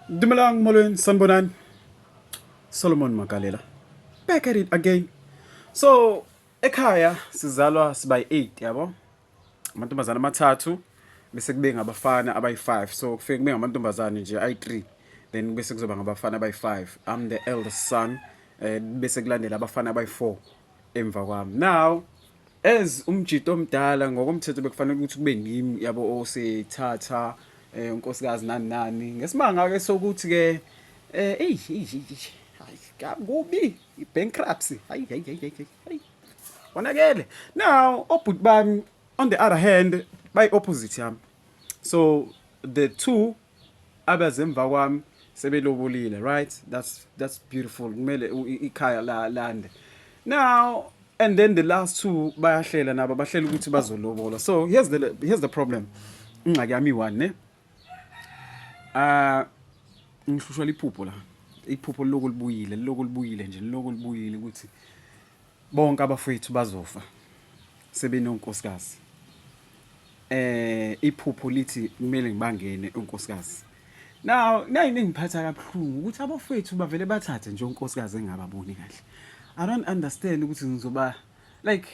Dumelang moleng sanbonani Solomon Makalela back at it again so ekhaya sizalwa siba yi-8 yabo amantombazane amathathu bese kube ngabafana abayi-5 so kufike kube ngamantombazane nje ayi-3 then bese kuzoba ngabafana abayi-5 i'm the eldest son um bese kulandela abafana abayi-4 emva kwami now As umjito omdala ngokomthetho bekufanele ukuthi kube ngimi yabo osethatha eh, unkosikazi nani nani ngesimanga ke sokuthi ke eh eyi eyi, eyi, eyi, hayi kabi kubi i-bankruptcy hayi hayi hayi hayi, hayi hayi konakele now obhuti bami on the other hand bayi-opposite yami so the two Abeze emva kwami sebelobolile right that's that's beautiful kumele ikhaya la lande now and then the last two bayahlela nabo bahlela ukuthi bazolobola so here's the here's the problem ingxaki yami one ne ah ngihlushwa liphupho la iphupho lokho libuyile lokho libuyile nje lokho libuyile ukuthi Bonke abafwethu bazofa sebenonkosikazi. Eh iphupho lithi kumele ngibangene unkosikazi. Now nayini engiphatha kabuhlungu ukuthi abafwethu bavele bathathe nje unkosikazi engababoni kahle. I don't understand ukuthi ngizoba like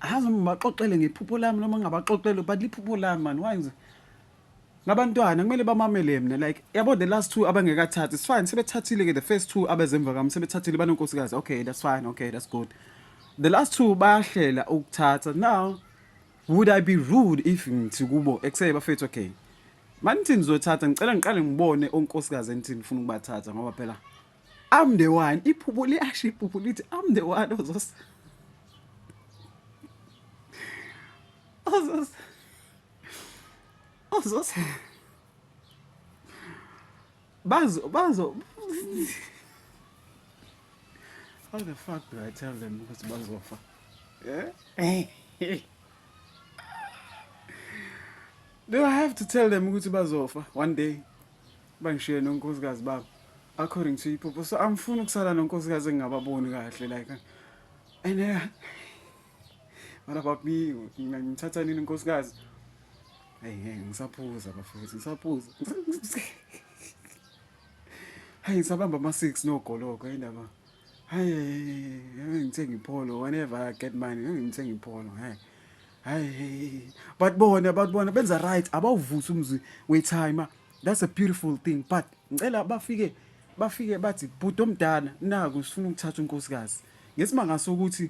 azi ngibaxoxele ngephupho lami noma ngingabaxoxele but liphupho lami man why ngizo Labantwana kumele bamamele mina like yabo the last two abangekathathi it's fine sebethathile ke the first two abezemva kami sebethathile banonkosikazi okay that's fine okay that's good the last two bayahlela ukuthatha now would i be rude if ngithi kubo ekuseye bafethu okay manithi nizothatha ngicela ngiqale ngibone onkosikazi enithini ngifuna ukubathatha ngoba phela i'm the one iphupho liyasho iphupho lithi i'm the one ozos ozos Uzos Bazo bazo How the fuck do I tell them ukuthi bazofa? Eh? Do I have to tell them ukuthi bazofa one day? Bangishiye nonkosikazi babo according to iphupho. So angifuni ukusala nonkosikazi engingababoni kahle like and uh, Mara papi, ngithatha nini nkosikazi? Hey, hey, ngisaphuza bafethu, ngisaphuza. Hayi ngisabamba ama 6 no goloko indaba. Hayi, hayi ngithenga ipholo whenever I get money, ngithenga ipholo. Hayi. Hayi, but bona, but bona benza right, abawuvusi umzi we time. That's a beautiful thing, but ngicela bafike bafike bathi bhuti omdala naku sifuna ukuthatha unkosikazi. Ngesimanga sokuthi